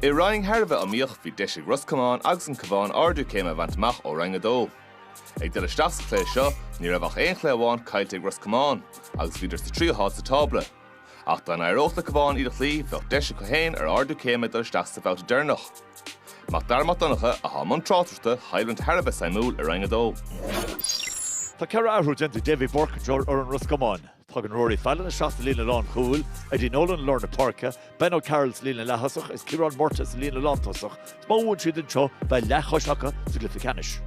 I roinn thar a bheith iomaíoch, bhí deis ag Ros Comáin agus an Cabhán ardú céime a bhaint amach ó Roinn 2. Ag dul isteach sa chluiche seo, ní raibh ach aon chluiche amháin caillte ag Ros Comáin agus bhíodar sa tríú háit sa tábla. Ach dá n-éireodh leis an gCabhán iad a chloí, bheadh deis acu féin ar ardú céime ag dul isteach sa bhabhta deireanach. Macdara Mac Donncha atá i mbun tráchtaireachta choimhlint thar a bheith suimiúil i Roinn 2. Tá ceithre athrú déanta ag Davy Burke ar fhoireann Ros Comáin. Tagann Rory Fallon isteach sa líne lánchúil, Eddie Nolan i lár na páirce, Ben O'Carroll sa líne leaththosach agus Ciarán Murtagh sa líne lántosach. Is má bhuann siad anseo, beidh leathchois acu sa gcluiche ceannais.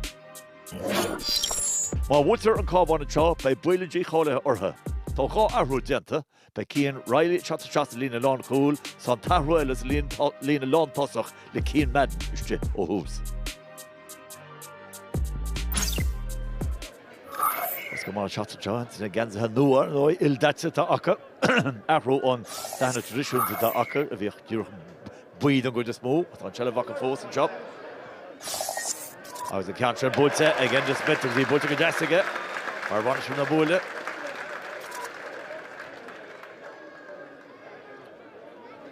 Má bhuaitear an Cabhán anseo, beidh baol dícháilithe orthu. Tá dhá athrú déanta, beidh Cian Reilly isteach sa líne lánchúil, is tá an t-athrú eile sa líne lántosach le Cian Madden istigh ó thús. Ros Comáin seo ag teacht, na geansaithe nua ildaite atá acu, athrú ó na dathanna traidisiúnta atá acu, a bhíodh díreach buí don gcuid is mó. Tá an tseilbh acu fós anseo. Agus an ceann sin buailte ag Enda Smith agus í buailte go deas aige ó bharr na buaile.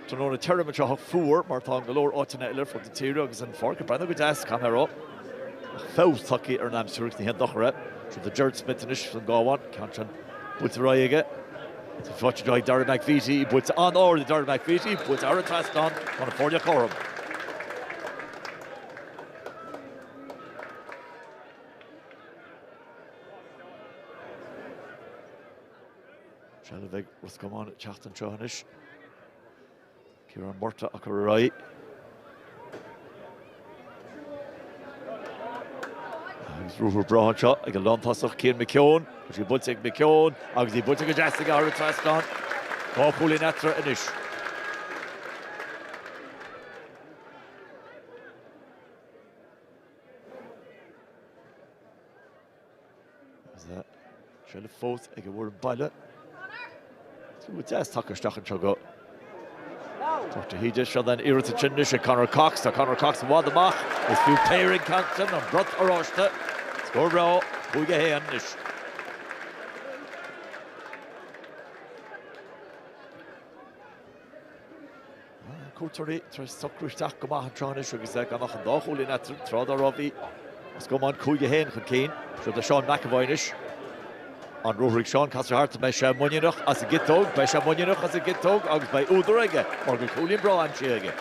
Tráthnóna tirim anseo ach fuar, mar atá in go leor áiteanna eile ar fud na tíre, agus an pháirc ag breathnú go deas, cé go mbeadh feabhas tagtha ar an aimsir agus ní haon dochar é. Seo do Gerard Smith anois don gCabhán, ceann sin buailte ar aghaidh aige. Seo ag teacht Dara McVeety, í buailte an-ard ag Dara McVeety, buailte thar an trasnán, tá na foirne cothrom. Seilbh ag Ros Comáin ag teacht anseo anois. Ciarán Murtagh acu ar aghaidh. Agus ruathar breá anseo ag an lántasach Cian McKeon. Tá sí buailte ag McKeon agus í buailte go deas aige thar an trasnán. Dhá chúilín eatarthu anois. Seilbh fós ag an bhfoireann baile. Buille deas tugtha isteach anseo go. Tá sé híde seo an iarratas istigh anois ag Conor Cox. Tá Conor Cox i bhfad amach. Is fiú péire an ceann sin, an brat oráiste. Scór breá, 5-1 anois. cuairteoirí tar éis socrú isteach go maith an tráth anois agus gan ach an dá chúilín eatarthu, tráth dá raibh bhí Ros Comáin cúig a haon chun cinn. Seo do Seán McEvoy anois. An ruathar ag Seán, casta thart, beidh sé muiníneach as an gciotóg, beidh sé muiníneach as an gciotóg agus beidh údar aige mar go bhfuil cúilín breá aimsithe aige.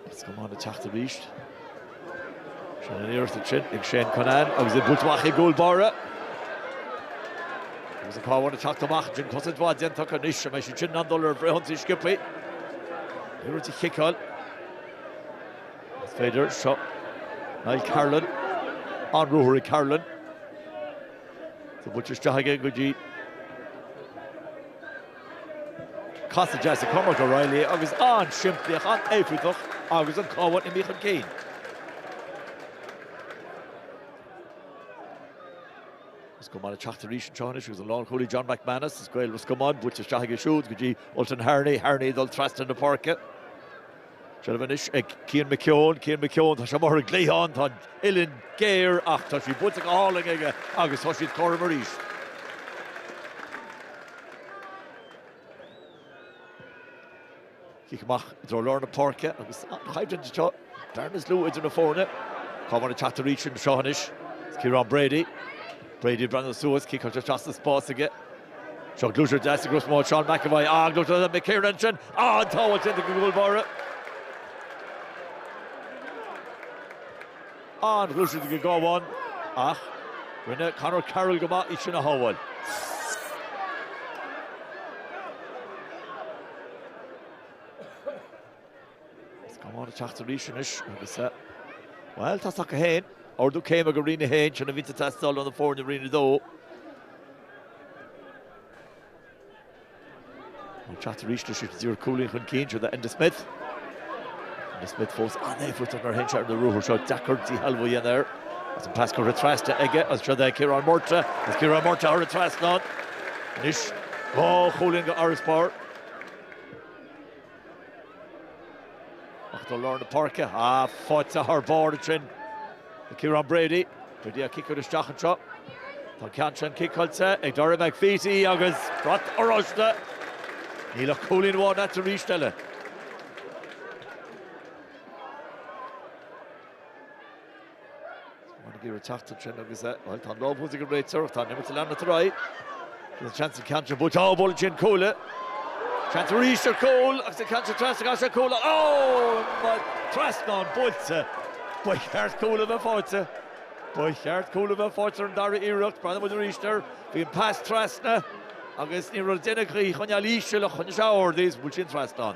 Ros Comáin ag teacht arís. Sin an iarracht ansin ag Shane Cunnane agus é buailte amach ag an gcúl báire. Agus an Cabhán ag teacht amach ansin, cosaint mhaith déanta acu anois, an mbeidh siad sin in ann dul ar an bhfrithionsaí sciobthaí? Ag iarraidh í a chiceáil. B'fhéidir seo Niall Carolan, an-ruathar ó Carolan. Tá buailte isteach aige go dtí. Casadh deas ag Cormac O'Reilly agus an-simplíoch, an-éifeachtach agus an Cabhán imithe chun cinn. Ros Comáin ag teacht arís anseo anois agus an lánchúlaí John McManus as Gaeil Ros Comáin buailte isteach aige siúd go dtí Ultan Harney, Harney ag dul trasna na páirce. Seilbh anois ag Cian McKeon. Cian McKeon, tá sé amuigh ar an gcliathán, tá an uillinn géar ach tá sí buailte go hálainn aige agus tá siad cothrom arís. Cic amach i dtreo lár na páirce agus an choimhlint anseo dar níos lú idir na foirne. Cabhán ag teacht arís anseo anois. Is Ciarán Brady. Brady ag breathnú suas, ciceáilte isteach sa spás aige. Seo gluaiseacht deas i gcros mbád Seán McEvoy. Á, gluaiseacht ó McKiernan ansin. Á, an-sábháil déanta ag an gcúlbáire. Á, an-ghluaiseacht ag an gCabhán. Ach rinne Conor Carroll go maith é sin a shábháil. Cabhán ag teacht arís anois agus, bhuel, tá a fhios acu féin. Ardú céime go Roinn a haon, sin a bhíonn ag teastáil ó na foirne Roinn a dó. Ag teacht arís leis is iad cúilín chun cinn seo Enda Smith. Enda Smith fós an-éifeachtach nuair a théann sé ar na ruathair seo, deacair díshealbhú a dhéanamh air. Is an pas curtha trasna aige, is seo é Ciarán Murtagh, is Ciarán Murtagh thar an trasnán. Anois dhá chúilín d'fharasbarr. Ach i dtreo lár na páirce, ah, faighte thar barr ansin ag Ciarán Brady. Brady ag ciceáil isteach anseo. Tá ceann sin ciceáilte ag Dara McVeety agus brat oráiste. Níl ach cúilín amháin eatarthu arís eile. Cabhán ag iarraidh teacht ansin agus bhuel tá an lámh thuas ag an réiteoir ach tá an imirt ag leanacht ar aghaidh. Tá an seans an ceann sin buailte. Á bhuail sin cuaille. Seans arís ar chúl agus an ceann sin trasna caithfidh sé cúl a. Á! Trasnán buailte. Ba cheart cúl a bheith fáighte. Ba cheart cúl a bheith fáighte ar an dara iarracht. Breathnóidh muid arís air. Bhí an pas trasna agus ní raibh le déanamh ach í a choinneáil íseal ach choinnigh sé ard í agus bhuail sé an trasnán.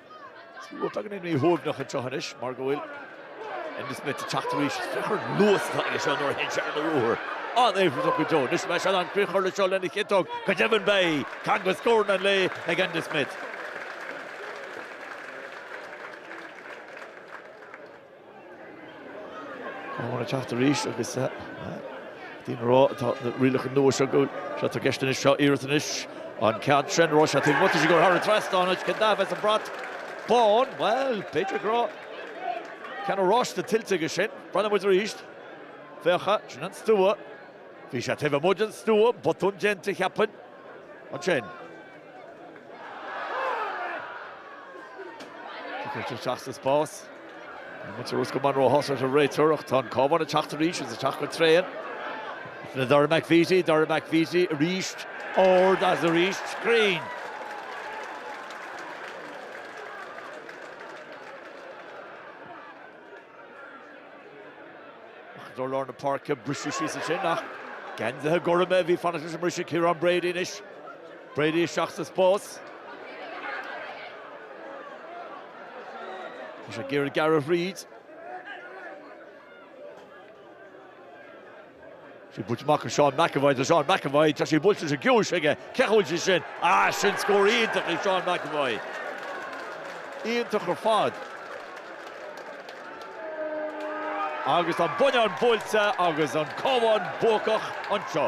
Tá daoine míshuaimhneach anseo anois mar go bhfuil Enda Smith ag teacht arís. Féach ar an luas atá leis seo nuair a théann sé ar ruathar. An-éifeachtach go deo. Anois beidh sé in ann críoch a chur leis seo lena chiotóg. Go deimhin beidh. Ceann de scóranna an lae ag Enda Smith. Cabhán ag teacht arís agus sin an rud atá na rialacha nua seo go. Seo atá i gceist anois, seo iarracht anois an ceann sin raibh sé taobh amuigh tá sí ag goil thar an trasnán anois cén dath a bheas an brat bán, bhuel b'fhéidir go raibh ceann oráiste tuillte aige sin. Breathnaíonn muid arís. Féach, sin an stua. Bhí sé taobh amuigh den stua, botún déanta cheapfainn ansin. Cuirtear isteach sa spás. Muintir Ros Comáin róshásta leis an réiteoireacht. Tá an Cabhán ag teacht arís agus ag teacht go tréan. Le Dara McVeety, Dara McVeety arís, ard agus arís, cruinn! Ach go lár na páirce briseadh síos ansin, ach geansaithe gorma a bhí ag fanacht leis an mbriseadh, Ciarán Brady anois. Brady isteach sa spás. Tá sé ag iarraidh gearradh thríd. Sé buailte amach chuig Seán McEvoy tá Seán McEvoy. Tá sé buailte leis an gciumhais aige. Cén chaoi a bhfuil sí sin? Ah, sin scór iontach ag Seán McEvoy. Iontach ar fad. Agus an bonnán buailte agus an Cabhán buacach anseo.